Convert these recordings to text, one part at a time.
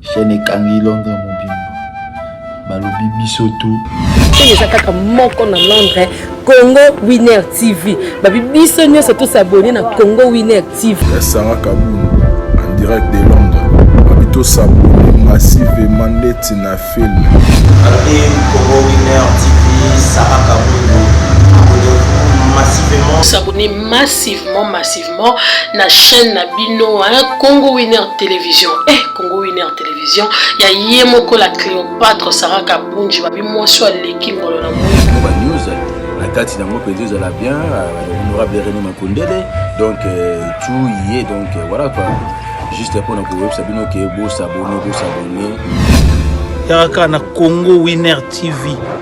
Chaîne ekangi Londres mobimba. Balobi biso tu. Chaîne eza kaka moko na Londres, Congo Winner TV. Babi biso nyonso tous abonner na Congo Winner TV. Ya Sarah Kabou en direct de Londres. Babi to s'abonner massivement ndeti na film. Babi Congo Winner TV, Sarah Kabou abonnez-vous massivement. S'abonner massivement massivement. directement na chaîne na bino hein, Congo Winner Television. Eh, Congo Winner Television, ya ye moko la Cléopâtre Sarah Kabunji, babi mwasi aleki ngolo na mwindo. Ba news na kati na ngo penza ezala bien, euh, honorable René Makondele, donc euh, tout y est, donc euh, voilà quoi. Juste pour na koyebisa bino ke bo s'abonner, bo s'abonner. Yaka na Congo Winner TV.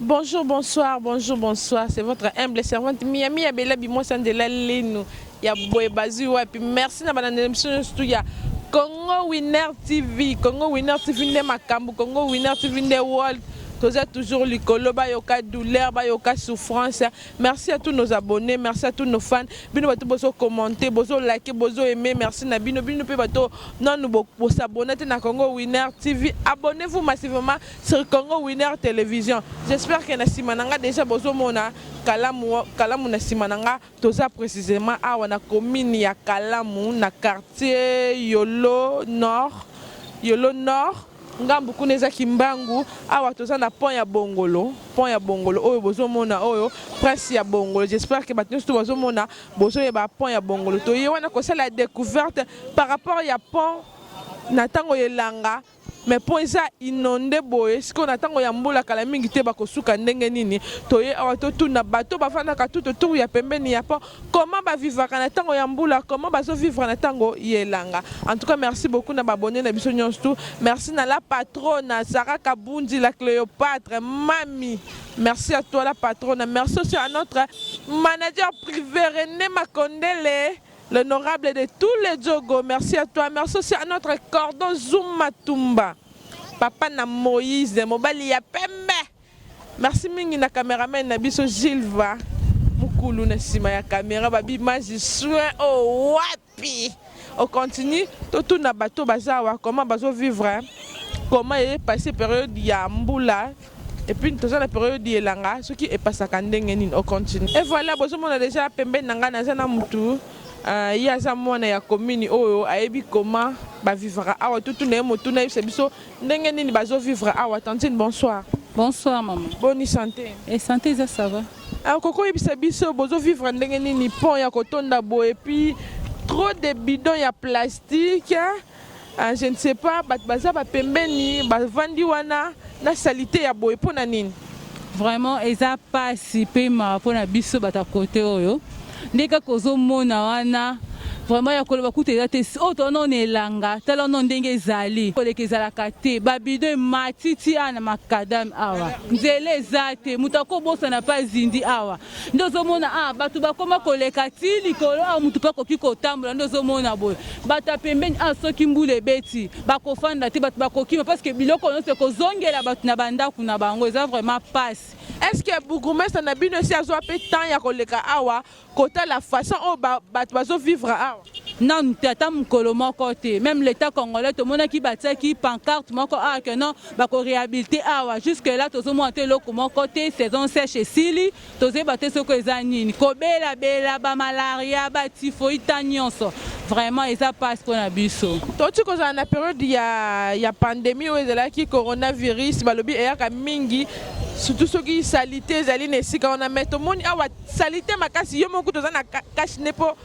Bonjour, bonsoir, bonjour, bonsoir. C'est votre humble servante Miami Abela Bimosa de la Lenu. Ya boye bazui wapi. Merci na bana émission surtout ya Congo Winner TV. Congo Winner TV nde makambo, Congo Winner TV nde world. Toza toujours likolo bayoka douleur, bayoka souffrance. Merci à tous nos abonnés, merci à tous nos fans. Bino bato bozo commenter, bozo liker, bozo aimer. Merci na bino. Bino pe bato nanu bo, bo s'abonner na Congo Winner TV. Abonnez-vous massivement sur Congo Winner Télévision. J'espère que na sima nanga déjà bozo mona kalamu kalamu na sima nanga toza précisément awa na commune ya Kalamu na quartier Yolo Nord. Yolo Nord ngambu kuna eza kimbangu awa toza na pont ya bongolo pont ya bongolo oyo bozomona oyo prince ya bongolo j'espère que bato nyonso to bazomona bozoyeba pont ya bongolo toye wana kosala découverte par rapport ya pont na ntango ya elanga mais mpo eza inonde boye sikoyo na ntango ya mbula kala mingi te bakosuka ndenge nini toye awa totuna bato bafandaka tout autour ya pembeni ya pont comment ba vivaka na tango ya mbula comment bazo vivre na tango ya elanga en tout cas merci beaucoup na ba abonne na biso nyonso tout merci na la patrona Sarah Kabundi la Cléopatre mami merci à toi la patrona merci aussi à notre manager privé René Makondele l'honorable de tous les Djogo merci à toi merci aussi à notre cordon Zuma Tumba papa na Moïse mobali ya pembe Merci mingi na cameraman na biso Gilva mukulu na sima ya camera ba bimaji soin o oh, wapi on continue totuna bato baza awa comment bazo vivre hein? comment eye passe période ya mbula epuis toza na periode ya elanga soki epasaka ndenge nini ocontinue e voilà bozomona deja pembeni na ngai naza na motu uh, ye aza mwana ya komini oyo ayebi koma bavivaka awa totuna ye motuna yebisa biso Ndenge nini bazo vivre awa tantine bonsoir. Bonsoir maman. Boni sante. Et eh, sante eza ça va. Alors ah, koko yebisa biso bozo vivre ndenge nini pont ya kotonda bo et puis trop de bidons ya plastique. Ah, je ne sais pas bato baza bapembeni bavandi wana na salite ya boye mpo na nini vraiment eza mpasi mpe mawa mpo na biso bato ya kote oyo Nde kaka ozo mona wana vraiment ya koloba kutu eza te oyo toza nao na elanga tala nao ndenge ezali koleka ezalaka te ba bidon emati ti awa na macadame awa nzela eza te moto akobosana pa zindi awa nde ozomona awa bato bakoma koleka ti likolo awa moto mpe akoki kotambola nde ozomona boye bato ya pembeni awa soki mbula ebeti bakofanda te bato bakokima parceke biloko nyonso ekozongela bato na bandako na bango eza vraiment pasi Est ce que bourgmestre na bino esi azwa pe temps ya koleka awa kotala façon oyo bato bazo vivre awa? nanu te ata mokolo moko te meme l'etat congolais tomonaki batiaki pancarte moko awa que non bako rehabilite awa jusque là tozomona te eloko moko te saison sèche esili tozoyeba te soko eza nini kobela bela ba malaria ba typhoïde ta nyonso vraiment eza pasi mpo na biso toti kozala na periode ya, ya pandemie oyo ezalaki coronavirus balobi eyaka mingi surtout soki salite ezali na esika wana mai tomoni awa salite makasi yo moko toza na cache ne mpo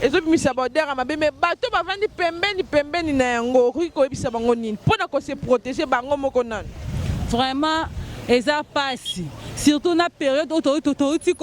ezobimisa baodeur ya mabe mai bato bavandi pembeni pembeni na yango okoki koyebisa bango nini mpo na kose protege bango moko nano vraiment eza mpasi surtout na periode oyo touti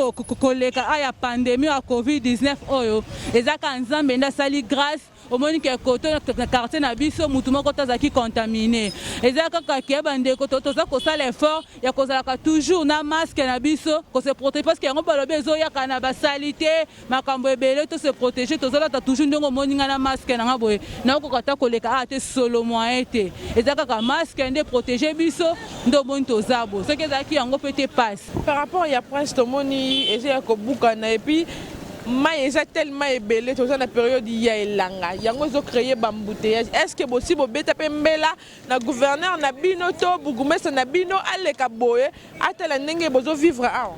koleka aya pandemie ya covid-19 oyo ezaka nzambe nde asali grâce omoni ke koto na quartier na biso mutu moko te azalaki contamine eza kaka ke bandeko toza kosala effort ya kozalaka toujours na masque na biso ko se protéger parce que yango balobi ezoyaka na basalite makambo ebele to se protéger tozolata toujours ndenge omoni nga na masque na nga boye naokoka ata koleka awa te solo moyen te eza kaka masque nde protéger biso nde omoni toza bo soki ezalaki yango mpe te passe par rapport ya prince tomoni eza ya kobukana epuis Mayi eza tellement ebele toza na periode ya elanga yango ezo cree ba embouteillages est ce que bosi bobeta pe mbela na gouverneur na bino to bourgoumestre na bino aleka boye atala ndenge bozo vivre awa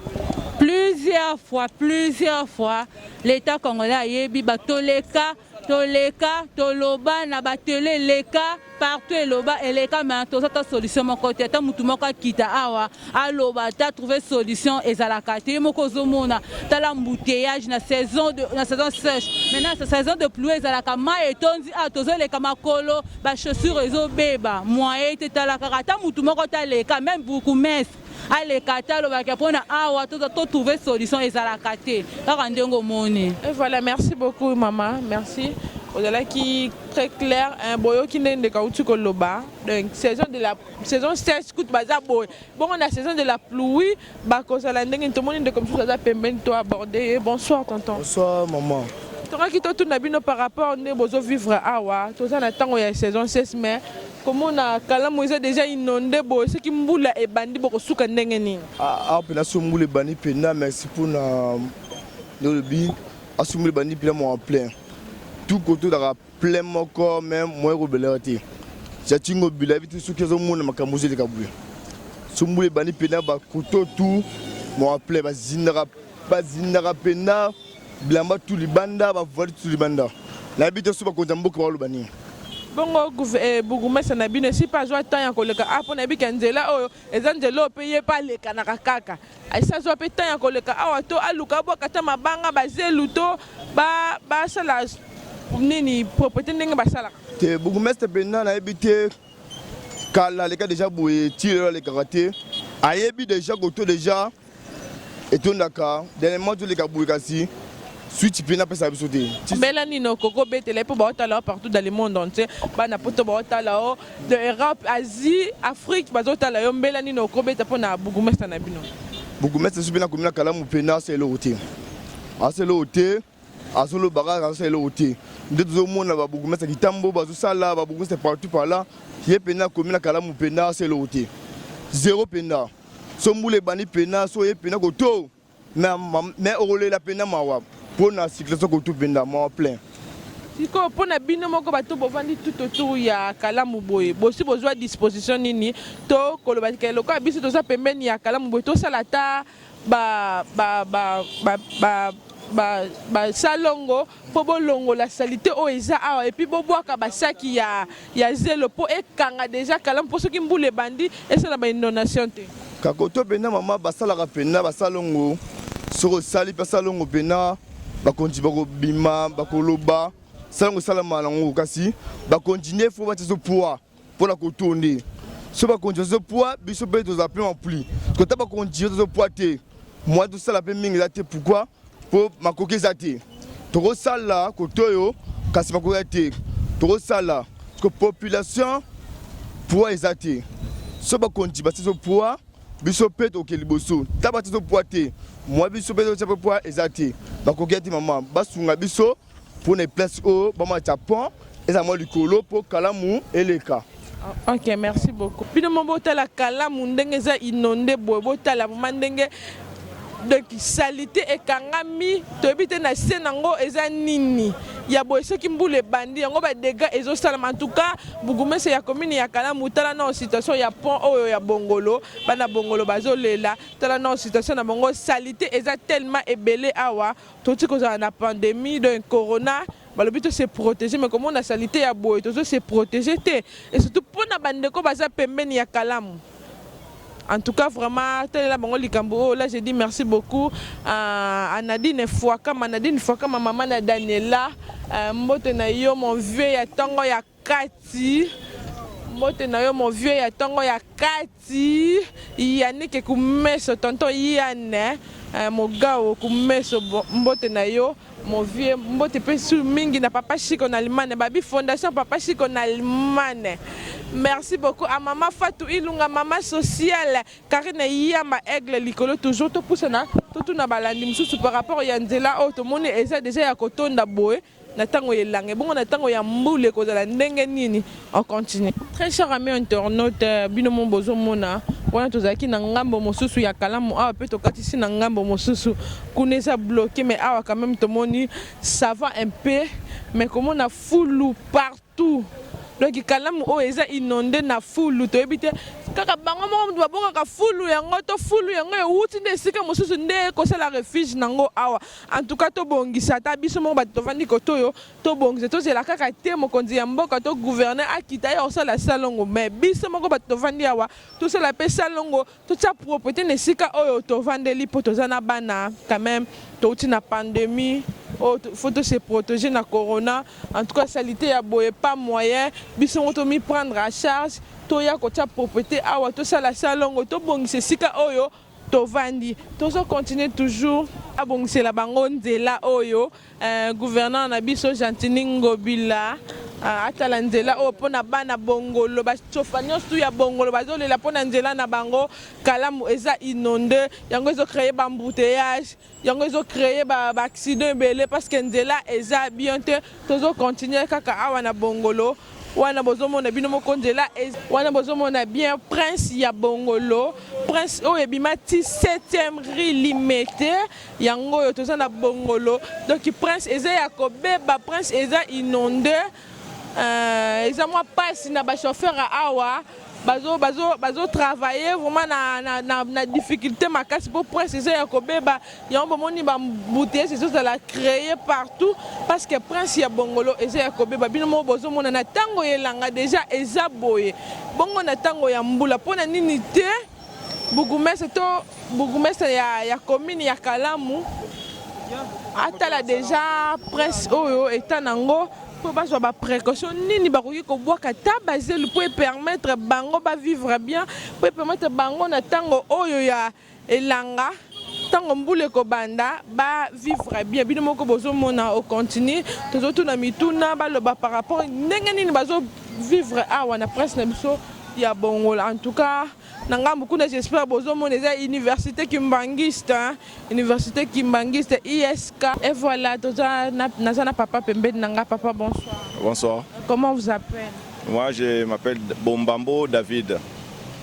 plusieurs fois plusieurs fois l'etat congolais ayebi ba toleka toleka toloba na batele eleka partout eloba eleka me toza ta solution moko te ata motu moko akita awa aloba ta trouve solution ezalaka te ye moko ozomona tala mbuteyage na saison de, na saison sèche maintenant sa saison de pluie ezalaka mai etondi awa tozoleka makolo bachaussure ezobeba moye te tala kaka ata motu moko taleka meme bourgoumestre aleka ata alobaka mpona awa to trouver solution ezalaka te kaka ndenge omoni et voilà merci beaucoup mama merci ozalaki très clair hein, boyoki nde ndeko auti koloba donc saison de la saison sèche kutu baza boye bongo na saison de la pluie bakozala ndenge nini tomoni ndeko mosusu aza pembeni to aborde ye bonsoir tonton bonsoir maman tongaki totuna bino par rapport nde bozovivre awa toza na ntango ya saison sèche mais Komona kalamu eza deja inonde boye soki mbula ebandi bokosuka ndenge nini? Awa mpena soki mbula ebandi mpena merci mpona nde olobi asoki mbula ebandi mpena mwa plein tout kote ozalaka plein moko me moye kobelaka te jatingo bila yebi te soki azomona makambo ozoleka boye soki mbula ebandi mpena bakoto tout mwa plein bazindaka bazindaka mpena Bilamba tu libanda ba voile tu libanda. Na bito suba konza mboka ba loba nini? bongo eh, bugumesa na bino esi mpe azwa temps ya koleka awa ah, mpo nayebi ke nzela oyo eza nzela oyo mpe ye mpe alekanaka kaka esi azwa mpe temps ya koleka awa to aluka abwaka ata mabanga bazelu to basala nini propriété ndenge basalaka te bourgmestre mpenza nayebi te kala aleka deja boye ti lelo alekaka te ayebi deja koto deja etondaka dernièrement toleka boye kasi switch mpe napesa biso te mbela nini okoki obetela ye mpo baotala partout dans le monde entier bana poto baotala o de europe asie afrique bazotala yo mbela nini okoki obeta mpo na bourgmestre na bino bourgmestre soki mpe nakomi na kalamu mpe nasa eloko te asa eloko te azo loba kaka azo sala eloko te nde tozo mona ba bourgmestre kitambo bazo sala ba bourgmestre partout par là ye pena komi na kalamu pena azo sala eloko te zero pena so mbula ebandi pena so ye pena koto mais mais okolela pena mawa pona circulation koto pena mawa plein sikoyo mpo na bino moko bato bovandi tout autour ya kalamu boye bosi bozwa disposition nini to koloba ke lokola biso toza pembeni ya kalamu boye tosala ata ba ba ba ba, ba basalongo mpo bolongola salite oyo eza awa epuis bobwaka basaki ya, ya zelo mpo ekanga deja kalamu mpo soki mbula ebandi esala bainondation te kakoto mpena mama basalaka mpena basalongo soki osali mpe salongo mpena bakonzi bakobima bakoloba salongo esalama nango kasi bakonzi nde fo batya so poids Mpo na kotonde so bakonzi bazo poa biso mpe tozala mpe mampli kota bakonzi yo tozo poa te mwa tosala mpe mingi eza te pourkui mpo makoki eza te tokosala koto oyo kasi makoki eza te tokosala ko population poa eza te so bakonzi basizo poa biso mpe toke liboso ta batizo poa te mwa biso mpe totia mpe poa eza te bakoki eza te mama basunga biso Pour les places au bama Japon, eza mwa likolo po kalamu eleka. Ah, ok merci beaucoup bino mo botala kalamu ndenge eza inonde boye botala vraimen ndenge donc salite ekangami toyebi te na se nango eza nini ya boye soki mbula ebandi yango badega ezosalama antuka bugumese ya komini ya kalamu tala nao situation ya pont oyo ya bongolo bana bongolo bazolela tala nao situation na bango salite eza tellement ebele awa Toti kozala na pandemie donc corona balobi to se proteger mais komona salite ya boye tozo se proteger te et surtout pona ba ndeko baza pembeni ya kalamu en tout cas vraiment talela bango likambo oyo là je dis merci beaucoup à Nadine Fuakama Nadine Fuakama maman na Daniela euh, mbote na yo mon vieux ya tongo ya kati mbote na yo mon vieux ya tongo ya kati yanike kumeso tonton yane eh, mogao kumeso mbote na yo mon vieux mbote mpe su mingi na papa chiko na limane babi fondation papa chiko na limane merci beaucoup a mama fatou ilunga mama sociale karine yamba aigle likolo toujours topusana totuna balandi mosusu par rapport ya nzela oyo tomoni eza deja ya kotonda boye Na tango ya elanga ebongo na tango ya mbula ekozala ndenge nini? On continue. Très chers amis internautes, bino moko bozo mona wana tozalaki na ngambo mosusu ya Kalamu awa pe tokatisi na ngambo mosusu kuna eza bloque mais awa quand meme tomoni ça va un peu mais komona fulu partout. tout donc kalamu oyo eza inonde na fulu toyebi te kaka bango moko mutu babokaka fulu yango to fulu yango ewuti nde esika mosusu nde ekosala refuge na ngo awa en tout cas tobongisa ata biso moko bato tovandi kote oyo tobongisa tozela kaka te mokonzi ya mboka to gouverneur akita aya kosala salongo mais biso moko bato tovandi awa tosala pe salongo Totia proprete na esika oyo tovandeli po toza na bana quand meme touti na pandemie oyo oh, faut tose proteger na corona en tout cas salite ya boye pas moyen biso ngo tomi prendre à charge toya kotia proprete awa tosala salongo tobongisa esika oyo tovandi tozo continuer toujours abongisela bango nzela oyo oh, Eh gouverneur na biso Gentini Ngobila ah, atala nzela oyo mpo na bana Bongolo, bacofa nyonso tu ya Bongolo bazolela mpo na nzela na bango. Kalamu eza inonde, yango ezo cree ba embouteillage, yango ezo cree ba, ba accident ebele parce que nzela eza bien te. Tozo continuer kaka awa na Bongolo wana bozomona bino moko nzela wana bozomona bien prince ya Bongolo, prince oyo ebima ti 7e rue Limete. Yango oyo toza na bongolo donc prince eza ya kobeba prince eza inonde euh, eza mwa pasi na ba chauffeur awa bazo bazo bazo travailler vraiment na na na, na difficulté makasi pour prince eza ya kobeba yango bomoni ba bouteilles ezozala créer partout parce que prince ya bongolo eza ya kobeba bino moko bozomona na tango yelanga déjà eza boye bongo na tango ya mbula mpo na nini te Bourgoumestre to bourgoumestre ya, ya commune ya Kalamu atala deja presse oyo eta nango mpo bazwa ba précaution nini bakoki kobwaka ta bazelu mpo epermettre bango ba vivre bien mpo epermettre bango na ntango oyo ya elanga tango mbula ekobanda ba vivre bien bino moko bozomona au continue tozotuna mituna baloba par rapport ndenge nini bazo vivre awa na presse na biso ya bongola en tout cas na ngambo kuna j'espère bozomona eza université kimbanguiste hein? université kimbanguiste isk et voilà toza na, naza na papa pembeni na nga papa bonsoir bonsoir comment vous appelle Moi je m'appelle Bombambo David.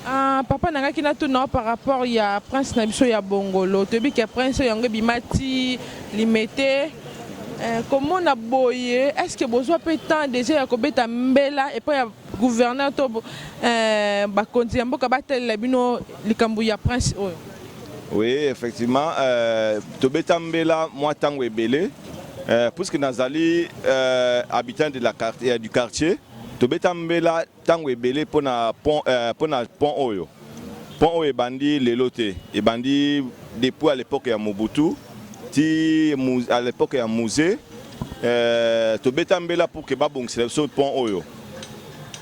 Ah, papa na ngaki natuna yo par rapport ya prince na biso ya bongolo toyebi ke prince oyo yango ebima ti limete eh, komona boye est ce que bozwa mpe temps déjà ya kobeta mbela epai ya gouverneur to eh, bakonzi ya mboka batalela bino likambo ya prince oyo oui effectivement euh, tobeta mbela mwa ntango ebele Euh, puisque nazali euh, habitant de la quartier, euh, du quartier tobeta mbela ntango ebele mpo na pont, euh, na pont oyo pont oyo ebandi lelo te ebandi depuis à l'époque ya mobutu ti à l'époque ya musée euh, tobeta mbela pour ke babongisela biso pont oyo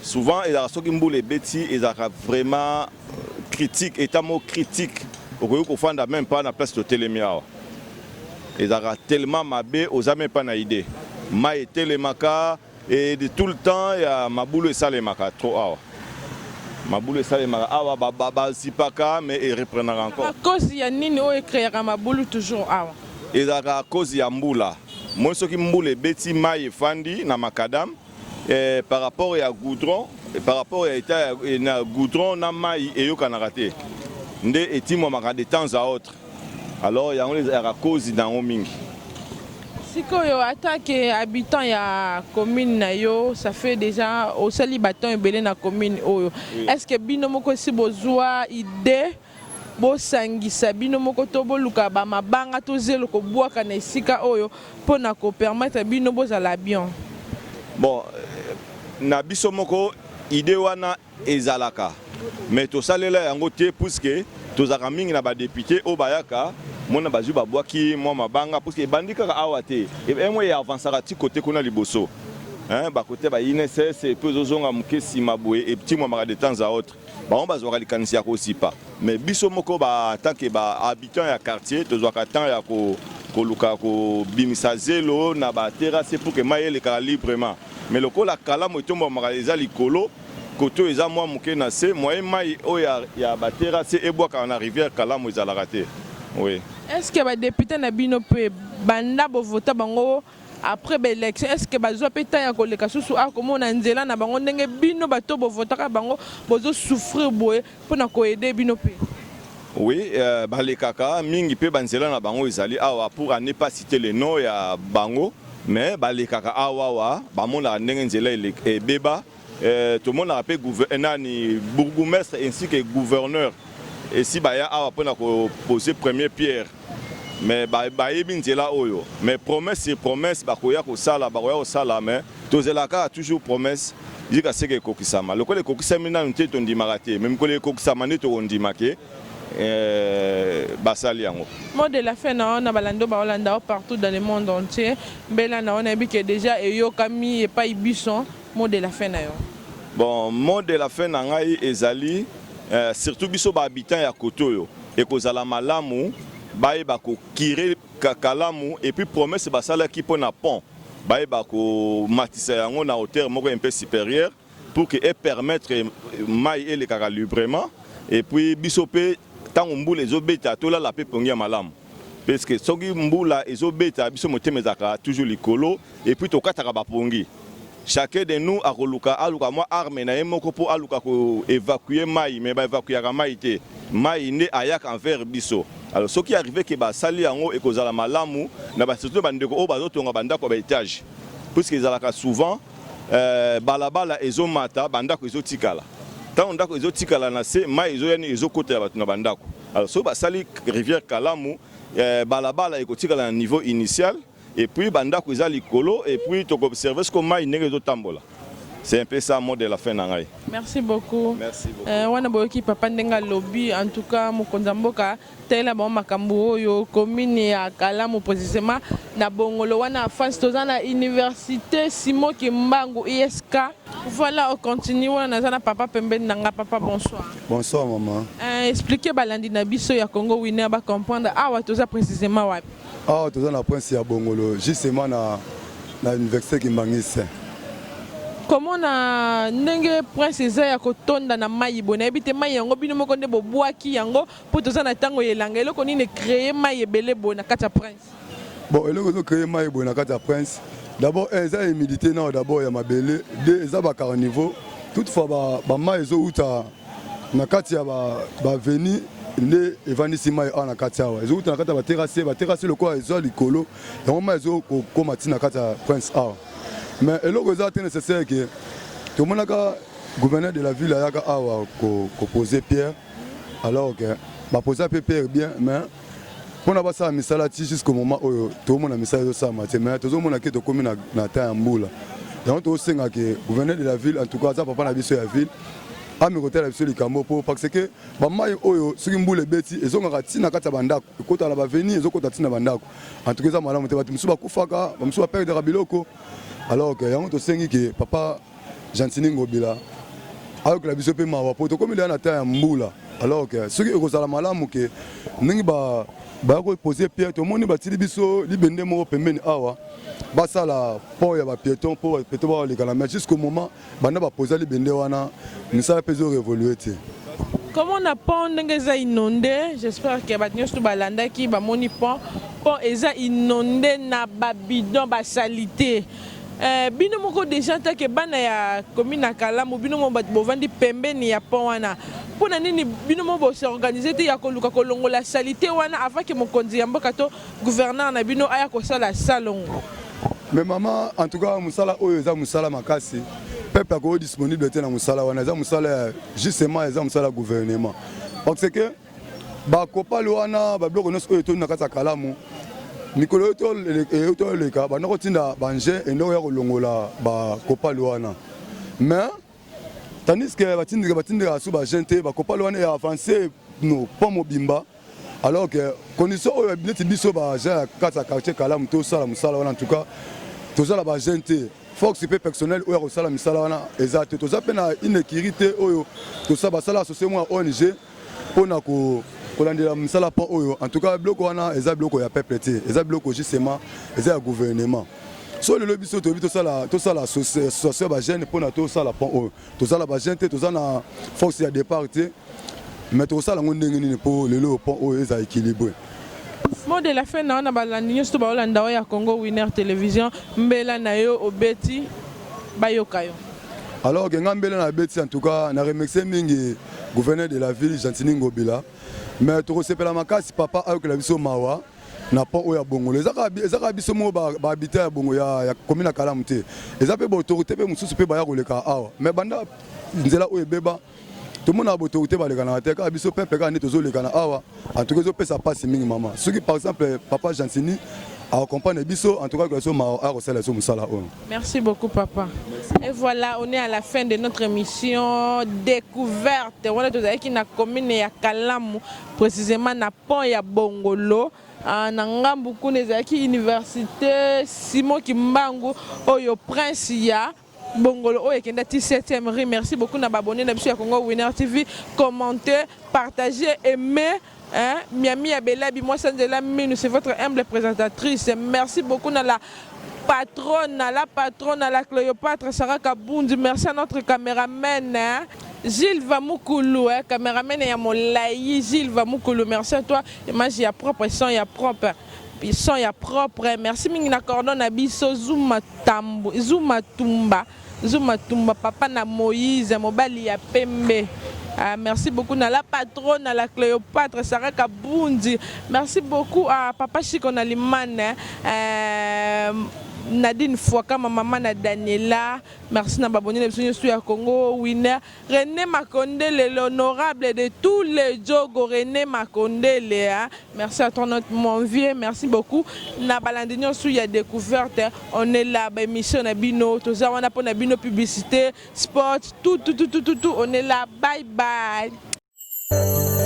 souvent ezalaka soki mbula ebeti ezalaka vraiment critique état moko critique okoki kofanda même pas na place totelemi awa ezalaka tellement mabe oza meme pas na idee mai etelemaka et de tout le temps ya mabulu esalemaka trop awa mabulu esalemaka awa bazipaka ba, ba, mais ereprenaka encore à cause ya nini oyo ecreaka mabulu toujours awa ezalaka à cause ya mbula moi soki mbula ebeti mai efandi na macadam Eh, par rapport ya goudron eh, par rapport ya etat ya eh, na goudron na mai eyokanaka te nde etimwamaka de temps à autre alors yango ezalaka cause na yango mingi sikoyo atake habitant ya commune na yo ça fait déjà osali baton ebele na commune oyo oui. est ce que bino moko esi bozwa idée Bosangisa bino moko to boluka ba mabanga to zelo kobuaka na esika oyo po na ko permettre bino bozala bion. Bon, na biso moko idee wana ezalaka mais tosalela yango te puisque tozalaka mingi na ba deputes oyo bayaka mona bazui babuaki mua mabanga puisque ebandi kaka awa te emoi e avancaka ti cote kuna liboso hein, ba cote ya ba INSS epuis ezozonga muke sima boye etimuamaka de temps à autre. Bango bazwaka likanisi ya kozipa mais biso moko ba en tant que ba habitants ya quartier tozwaka temps ya ko koluka kobimisa zelo na ba terrasse pour que mayi elekaka librement mais lokola kalamu etombwamaka eza likolo cote oyo eza mwa moke na se moyen mayi oyo ya ba terrasse ebwakaka na rivière kalamu ezalaka te oui. Est ce que ba deputes na bino pe banda bo vota bango Après ba election est ce que bazua pe temps ya koleka susu awa komona nzela na bango ndenge bino bato bo votaka bango bozo souffrir boye pona ko aider bino pe? Oui euh, balekaka mingi pe ba nzela na bango ezali awa pour à ne pas citer le nom ya bango mais balekaka awa awa bamonaka ndenge nzela ebeba Eh, tomonaka mpe eh, nani bourgoumestre ainsi que gouverneur esi eh, baya awa mpo na kopose premier pierre mais bayebi ba nzela oyo mais promesse sur promesse bakoya kosala bakoya kosala mais tozela kaka toujours promesse yika seke ekokisama lokola ekokisami nanu te tondimaka te mais mikolo ekokisama nde tokondima ke eh, basali yango mot de la fin na wana balando baolanda o partout dans le monde entier mbela na wana yebi ke déjà eyokami epai bison Mot de la fin na yo? Bon, mot de la fin na ngai ezali eh, surtout biso ba habitants ya kote oyo ekozala malamu bayeba ko kire kalamu et puis promesse basalaki mpo na pont bayeba komatisa yango na hauteur moko un peu supérieure pour que e permettre mai elekaka librement et puis biso mpe ntango mbula ezobeta tolala mpe pongi ya malamu. Puisque soki mbula ezo beta biso motema ezaka toujours likolo et puis tokataka ba pongi. Chacun de nous akoluka aluka mwa arme na ye moko po aluka ko evacuer mayi mais ba evacuaka mayi te. Mayi nde ayaka envers biso. Alors soki arrive que ba sali yango ekozala malamu na ba surtout ba ndeko oyo bazo tonga ba ndaku ya ba etages. Puisque ezalaka souvent bala bala ezo mata ba ndaku ezo tikala. Tango ndaku ezo tikala na se mayi ezo ya nini ezo kotela batu na ba ndaku. Alors soki basali rivière Kalamu eh, balabala ekotikala na niveau initial et puis bandako eza likolo et puis toko observer siko mai ndenge ezotambola c'est un peu ça mot de la fin na ngai merci beaucoup merci beaucoup euh, wana boyoki papa ndenga lobi en tout cas mokonzi ya mboka talela bango makambo oyo commune ya kalamu précisément na bongolo wana face toza na université simo kimbangu isk Voilà, on continue. On a papa pembeni nanga papa bonsoir. Bonsoir maman. Euh, expliquer balandi na biso ya Congo winner ba comprendre awa toza précisément wapi. Awa toza na prince ya Bongolo justement na na université Kimbangiste. Comment na ndenge prince eza ya kotonda na mayi bona ebite mayi yango bino moko nde bobwaki yango po toza na tango yelanga eloko nini créer mayi ebele bona kata prince. Bon, eloko ezo créer mayi boye na kati ya prince. D'abord, eh, eza humidité nao d'abord ya mabele. Deux, eza ba carnivaux. Toutefois, ba, ba mayi ezo uta na kati ya ba, ba veni nde evandisi mayi awa na kati awa. Ezo uta na kati ya ba terrasse, ba terrasse lokola ezo likolo. Yango mayi ezo kokoma ti na kati ya prince awa. Mais eloko eza te nécessaire que tomonaka gouverneur de la ville ayaka awa ko, ko poser pierre alors que ba posa pe pierre bien mais mpona basala misala ti jusqu'au moment oyo tozomona misala ezosalama te mais tozomona ke tokomi na, na temps ya mbula yango tozosenga ke gouverneur de la ville en tout cas aza papa na biso ya ville ame kotala biso likambo mpo parce que bamai oyo soki mbula ebeti ezongaka ntina na kati ya bandako ekotala baveni ezokota ntina na bandako en tout cas eza malamu te bato mosusu bakufaka bamosusu baperdaka biloko alors que yango tosengi ke papa Gentini Ngobila ayokela biso mpe mawa mpo tokomi deya na temps ya mbula alors que soki ekozala malamu ke ndenge ba baya kopose pierre tomoni batili biso libende moko pembeni awa basala port ya bapieton mpo bapieton baolekana mais jusqu'au moment banda baposa libende wana misala mpe ezorevolue te komona pont ndenge eza inonde j'espère ke bato nyonso to balandaki bamoni pont pont eza inonde na babidon basalite Eh bino moko deja take bana ya commune na Kalamu bino moko bato bovandi pembeni ya pont wana mpo na nini bino moko bo s'organiser te ya koluka kolongola salite wana avant que mokonzi ya mboka to gouverneur na bino aya kosala salongo. Mais maman en tout cas musala oyo eza musala makasi peuple ako disponible te na musala wana eza musala ya justement eza musala ya gouvernement parce que bakopale wana babiloko nyonso oyo etoni na kati ya kalamu mikolo oyo toleka banda kotinda bange endoko ya kolongola bakopale wana mais tandiske batindika batindika su bagen te bakopale wana ya avance no mpo mobimba alors que condition oyo neti biso bagen ya kati ya quartier kalamu tosala mosala wana en tout cas toza na bagen te fox mpe personnel oyo akosala misala wana eza te toza mpe na inekiri te oyo basala associe mwa ong pona ko kolandela mosala mpo oyo en tout cas biloko wana eza biloko ya peuple te eza biloko justement eza ya gouvernement so lelo biso toyebi tosala tosala association ya bajeune mpona tosala pont oyo tozala bajeune te toza na force ya départ te mais tokosala yango ndenge nini mpo lelo pont oyo eza équilibre mot de la fin na wana balandi nyonso to baolanda oyo ya congo winner télévision mbela na yo obeti bayoka yo alors ke nga mbela na beti en tout cas na remercie mingi gouverneur de la ville Gentini Ngobila mais tokosepela makasi papa ayokela biso mawa na pont oyo ya bongolo ezaka biso moko bahabitant ya bongo ya komina kalamu te eza mpe baautorité mpe mosusu mpe baya koleka awa mais banda nzela oyo ebeba tomonaka baautorité balekanaka te kaka biso peuple kaka nde tozolekana awa En tout cas, ezo pesa pasi mingi maman. Ce qui par exemple papa Gentini a comprendre biso en tout cas que so ma a resala so musala oyo. Merci beaucoup papa. Merci. Et voilà, on est à la fin de notre émission découverte. On est tozalaki na commune ya Kalamu, précisément na pont ya Bongolo. Ah, na ngambu kuna ezalaki université Simon Kimbangu oyo prince ya Bongolo oyo ekenda ti 7e rue. Merci beaucoup na ba abonnes na biso ya Congo Winner TV. Commentez, partagez, aimez. Hein? Miami ya Belabi, moi Sanzela Minu, c'est votre humble présentatrice. Merci beaucoup na la patronne, à la patronne, à la Cléopâtre, Sarah Kabundi. Merci à notre caméraman. Hein? Gilles Vamoukulu, hein, caméraman et à mon laï, Gilles Vamoukulu, merci à toi. Image, il y a propre, son, il y a propre. Son ya propre merci mingi na cordon na biso zuma tambu zuma tumba zuma tumba papa na moïse mobali ya pembe Ah, merci beaucoup na la patronne, à la Cléopâtre, Sarah Kabundi. Merci beaucoup à Papa Chico Nalimane. Hein. Euh, Nadine Fouaka, ma maman na Daniela. Merci na babonne na biso ya Congo, Winner. Rene Makondele l'honorable de tous les djogo Rene Makondele hein. Merci à toi notre mon vieux, merci beaucoup na balandi nionso ya decouverte on est là ba émission na bino toza wana pona bino publicité sport tout tout tout tout tout on est là bye bye.